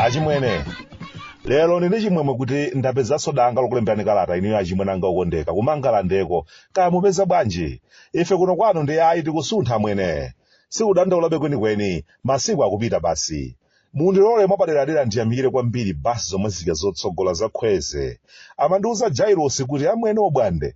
achimwene lero ndili ndi chimwemwe kuti ndapezanso danga lokulemberani kalata inuyo achimwene anga okondeka ku Mangalandeko kaya mupeza bwanji ife kuno kwanu ndi ayi tikusuntha amwene sikudandaulabe kwenikweni masiku akupita basi Mundilole mwapaderadera ndiyamikire kwambiri bus zomwe zija zotsogola za Khweze. Amandiuza Jailosi kuti amwene Obwande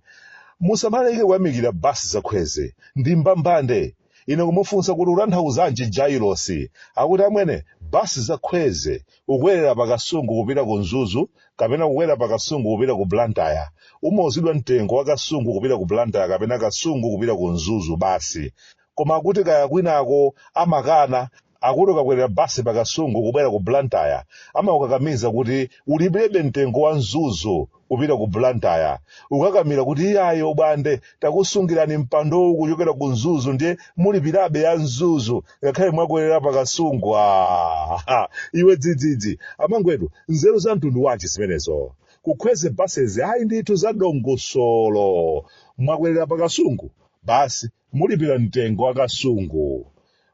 musamaleke kuyamikira bus za Khweze. Ndi mbambande. Ine kumufunsa kuti utanthauzanji Jailosi? Akuti amwene bus za Khweze ukwerera pa Kasungu kupita ku Mzuzu kapena kukwera pa Kasungu kupita ku Blantyre. Umauzidwa mtengo wa Kasungu kupita ku Blantyre kapena Kasungu kupita ku Mzuzu basi. Koma akuti kaya kwinako amakana akuti ukakwerera basi pa kasungu kubwera ku blantyre amakukakamiza kuti ulipirebe mtengo wa mzuzu kupita ku blantyre ukakamira kuti iyayi obwande takusungirani mpandowu kuchokera ku mzuzu ndiye mulipirabe ya mzuzu ngakhale mwakwerera pa kasungu Ah, iwe dzidzidzi amangwetu nzeru za mtundu wanji zimenezo ku khweze basezi ayi ndithu za dongosolo mwakwerera pa kasungu basi mulipira mtengo wa kasungu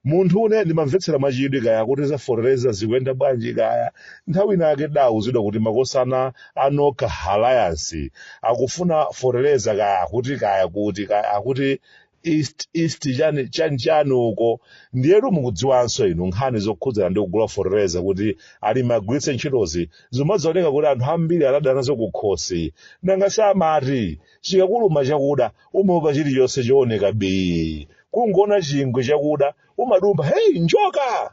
Munthune ndimamvetsera mwachidwi kaya akuti za fertilizer zikuyenda bwanji kaya. Nthawi ina yake tidauzidwa kuti makosana a Nokha Alliance akufuna fertilizer kaya akuti kaya kuti kaya akuti east east chani chani chani uko ndiyetu mukudziwanso inu nkhani zokhudzana ndi kugula fertilizer kuti alimi agwiritse ntchitozi zimazioneka kuti anthu ambiri anada nazo kukhosi nanga si amati chikakuluma chakuda umaopa chilichonse chooneka bii kungoona chingwe chakuda umadumpha heyi njoka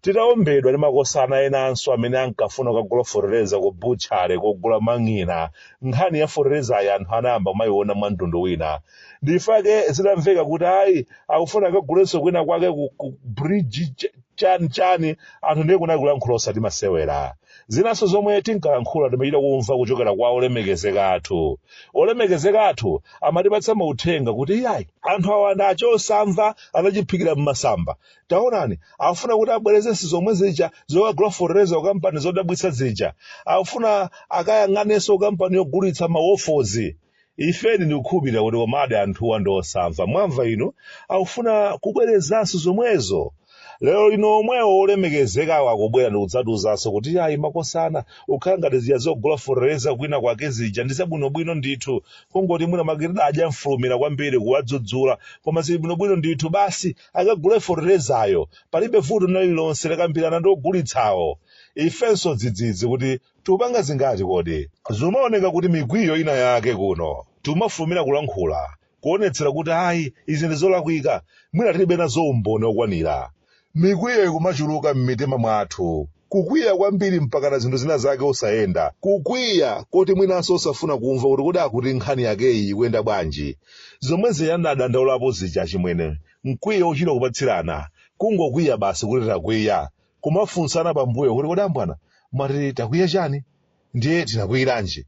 titaombedwa ndi makosana enanso amene ankafuna kukagula fotereza ku butchale kogula mang'ina nkhani ya foterezayi anthu anayamba kumayiona mwa mtundu wina ndifake zitamveka kuti ayi akufuna akagulenso kwina kwake ku, ku bridge ch- chani chani anthu ndiye kunali kulankhula osati masewera zinanso zomwe tinkalankhula timachita kumva kuchokera kwa olemekezeka athu olemekezeka athu amatipatsa mauthenga kuti iyayi anthu awa ndi a chosamva anachiphikira m'masamba taonani afuna kuti abwerezenso zomwe zija zokagula fertilizer ku kampani zodabwitsa zija afuna akayang'anenso kampani yogulitsa mawofozi ifedi ndikukhulupirira kuti komadi anthuwa ndi osamva mwamva inu akufuna kubwerezanso zomwezo lero lino omwewo olemekezekawo akubwera ndikudzatiuzanso kuti ayi makosana ukhala ngati zija zogula fertilizer kwina kwake zija ndi zabwinobwino ndithu kungoti mwina mwake tidadya mfulumira kwambiri kuwadzudzula koma zili bwinobwino ndithu basi akagule fertilizayo palibe vuto lina lililonse akambirana ndi ogulitsawo ifenso dzidzidzi kuti Tikupanga zingati kodi? Zikumaoneka kuti mikwiyo ina yake kuno, tikumafulumira kulankhula, kuwonetsera kuti ayi, izi ndi zolakwika, mwina tilibe nazo umboni okwanira. Mikwiyo ikumachuluka mmitima mwathu, kukwiya kwambiri mpakana zinthu zina zake osayenda, kukwiya koti mwinanso osafuna kumva kuti kodi akuti nkhani yakeyi ikuyenda bwanji. Zomwe zija ndinadandaulapo zija, achimwene, mkwiyo wochita kupatsirana, kungokwiya basi kuti takwiya, kumafunsana pambuyo kuti kodi ambwana mwati takwiya chani ndiye tinakwiyiranji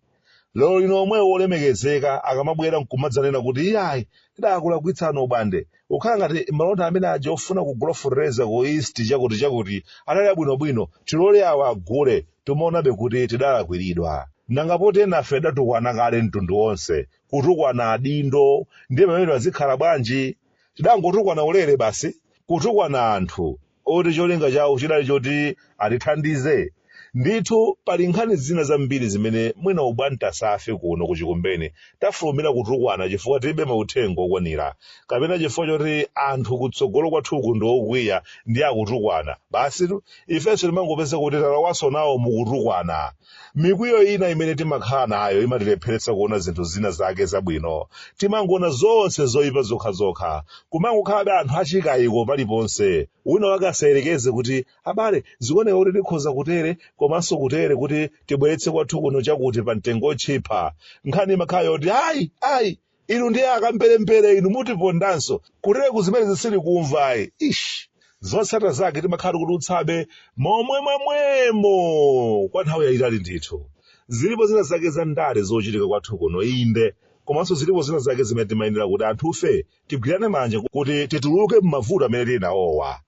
lero lino omwewo olemekezeka akamabwera nkumadzanena kuti iyayi tidakulakwitsani obwande akhala ngati malonda amene aja ofuna kugula fertilizer ku east chakuti chakuti anali abwinobwino tilole awa agule timaonabe kuti tidalakwiridwa nanga poti nafe tidatukwana kale mtundu wonse kutukwana adindo ndiye pamene pazikhala bwanji tidangotukwana ulere basi kutukwana anthu oti cholinga chawo chidali choti atithandize. Ndithu pali nkhani zina zambiri zimene mwina obwande enafe kuno ku Chikumbeni tafulumira kutukwana chifukwa tilibe mauthenga okwanira kapena chifukwa choti anthu kutsogolo kwathuku ndi okwiya ndiye akutukwana. Basitu ifenso timangopezeka kuti talowanso nawo mu kutukwana. Mikwiyo ina imene timakhala nayo imatilepheretsa kuona zinthu zina zake zabwino. Timangoona zonse zoipa zokhazokha. Kumangokhalabe anthu achikaiko paliponse. Wina wake asayerekeze kuti, Abale, zikuoneka kuti tikhoza kutere komanso kutere kuti tibweretse kwathu kuno chakuti pa mtengo wotchipa. Nkhani imakhala yoti, Ayi! Ayi! inu ndiye akamberembere inu mutipondanso kutereku zimenezo sitikumva ayi ish zotsata zake timakhala tikutulutsabe momwe mwamwemo kwa nthawi yayitali ndithu zilipo zina zake za ndale zochitika kwathu kuno inde komanso zilipo zina zake zimene timayenera kuti anthufe tigwirane manja kuti tituluke m'mavuto amene tili nawowa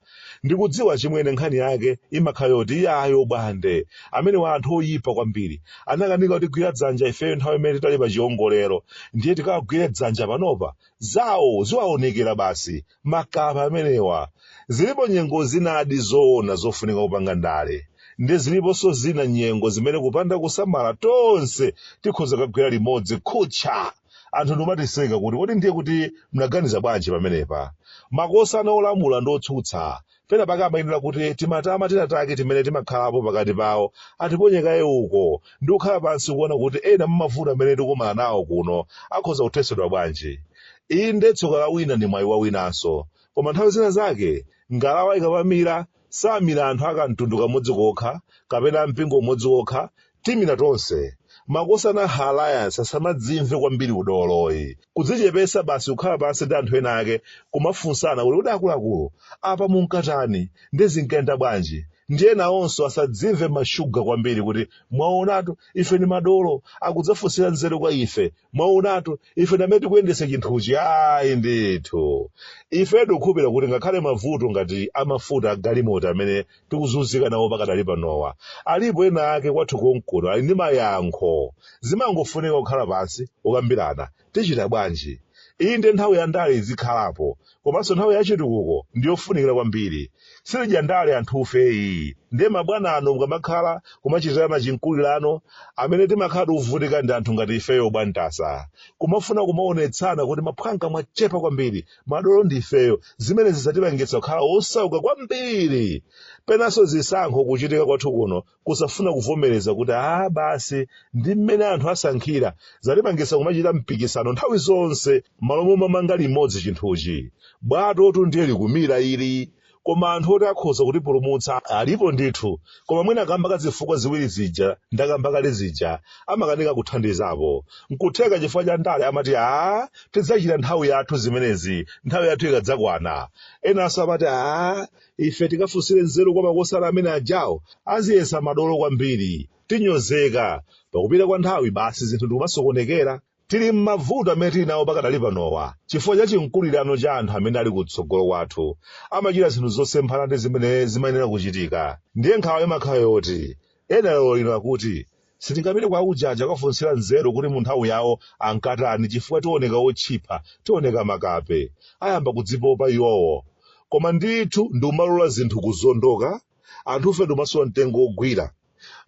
Ndikudziwa chimwene nkhani yake imakhala yoti iyayi obwande amenewa anthu oyipa kwambiri anakanika kutigwira dzanja ifeyo nthawi imene titali pa chiongolero ndiye tikawagwire dzanja panopa zawo ziwaonekere basi makapa amenewa zilipo nyengo zinadi zoona zofunika kupanga ndale ndi ziliponso zina nyengo zimene kupanda kusamala tonse tikhoza kagwera limodzi kuchaga anthu ndikumatiseka kuti kodi ndiye kuti mnaganiza bwanji pamenepa makosana olamula ndi otsutsa pena pake amayenera kuti timatama tina take timene timakhalapo pakati pawo atiponye kaye uko ndi kukhala pansi kuona kuti ena mmavuto amene tikumana nawo kuno akhoza kuthetsedwa bwanji inde tsoka la wina ndi mwayi wa winanso koma nthawi zina zake ngalawa ikamamira Samira anthu a kamtundu kamodzi kokha kapena a mpingo umodzi wokha, timira tonse. Makosana Ha Alliance asamadzimve kwambiri udoloyi. Kudzichepesa basi kukhala pansi ndi anthu ena ake kumafunsana kuti kodi akuluakulu, apa munkatani? Ndi zinkayenda bwanji? Ndiye enawonso asadzimve mashuga kwambiri kuti mwaonatu, ife ndi madolo, akudzafunsira nzeru kwa ife, mwaonatu ife ndamene tikuyendetsa chinthuchi ayi ndithu ife tikukhulupirira kuti ngakhale mavuto ngati amafuta agalimoto amene tikuzunzika nawo pakadali panowa alipo ena ake kwathu konkuno ali ndi mayankho zimangofunika kukhala pansi ukambirana tichita bwanji inde nthawi ya ndale izikhalapo komanso nthawi ya chitukuko ndi yofunikira kwambiri sitidya ndale anthufeyi ndiye mabwana ano mukamakhala kumachitirana chimkulirano amene timakhala tikuvutika ndi anthu ngati ifeyo bwantasa kumafuna kumaonetsana kuti maphwanga mwachepa kwambiri madolo ndi ifeyo zimene zikutipangitsa kukhala osauka kwambiri penanso zisankho kuchitika kwathu kuno kusafuna kuvomereza kuti a basi ndi mmene anthu asankhira zatipangisa kumachita mpikisano nthawi zonse m'malo momamanga limodzi chinthuchi bwatotu ndiye likumila ili koma anthu oti akhoza kutipulumutsa alipo ndithu koma mwina kamba ka zifukwa ziwiri zija ndakamba kale zija amakanika kuthandizapo nkutheka chifukwa cha ndale amati a tidzachita nthawi yathu zimenezi nthawi yathu ikadzakwana enanso amati a ife tikafunsire nzeru kwa makosana amene ajawo aziyesa madolo kwambiri tinyozeka pakupita kwa nthawi basi zinthu ndikumasokonekera tili m'mavuto amene tili nawo pakadali panowa chifukwa cha chimkulirano cha anthu amene ali kutsogolo kwathu amachita zinthu zosemphana ndi zimene zimayenera kuchitika ndiye nkhawa imakhala yoti ena lero lino akuti Sitingapite kwa ujeni aja kukafunsira nzeru kuti munthawi yawo ankatani chifukwa tioneka otchipa, tioneka makape. Ayamba kudzipopa iwowo. Koma ndithu ndikumalola zinthu kuzondoka, anthufe ndikumasowa mtengo wogwira.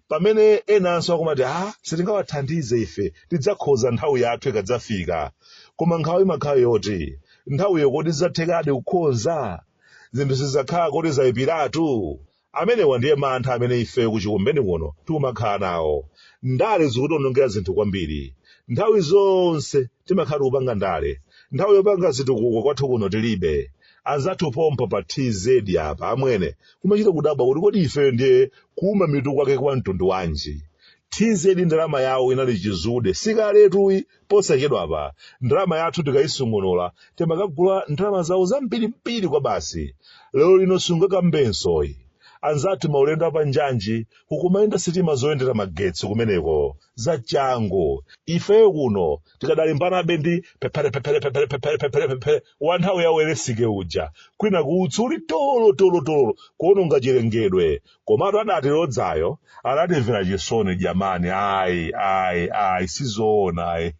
Pamene enanso akumati ha, sitingawathandize ife, tidzakhoza nthawi yathu ikadzafika. Koma nkhawa imakhala yoti, nthawiyo kodi zidzathekadi kukhoza? Zinthu sizidzakhala kuti zaipiratu? Amenewa ndiye mantha amene ifeyo ku Chikumbeni kuno tikumakhala nawo. Ndale zikutiwonongera zinthu kwambiri. Nthawi zonse timakhala kupanga ndale. Nthawi yopanga zitukuko kwathu kuno tilibe. Anzathu pompa pa TZ apa, amwene, kumachita kudabwa kuti kodi ifeyo ndiye kuuma mitu kwake kwa mtundu wanji? TZ ndalama yawo inali chizude, si kaletuyi Posachedwa apa, ndalama yathu tikaisungunula, timakagula ndalama zawo zambirimbiri kwabasi. Lero lino sungakambenso ayi. Anzathu maulendo a panjanji, kukumayenda sitima zoyendera magetsi kumeneko. Zachangu. Ifeyo kuno tikadalimbanabe ndi pephere-pephere-pephere-pephere-pephere-pephere wa nthawi ya Welensky uja, kwinaku utsi uli tololo-tololo-tololo kuononga chilengedwe, komatu adatilodzayo adatimvera chisoni jamani ayi ayi ayi sizoona ayi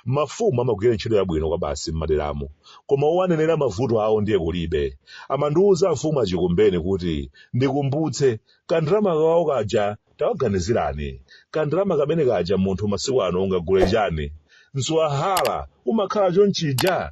mafumu amagwira ntchito yabwino kwabasi m'maderamo koma owanenera mavuto awo ndiye kulibe amandiwuza mfumu a Chikumbeni kuti ndikumbutse kandalama kawo kaja tawaganizirani kandalama kamene kaja munthu masiku ano ungagule chani mswahala umakhala chonchija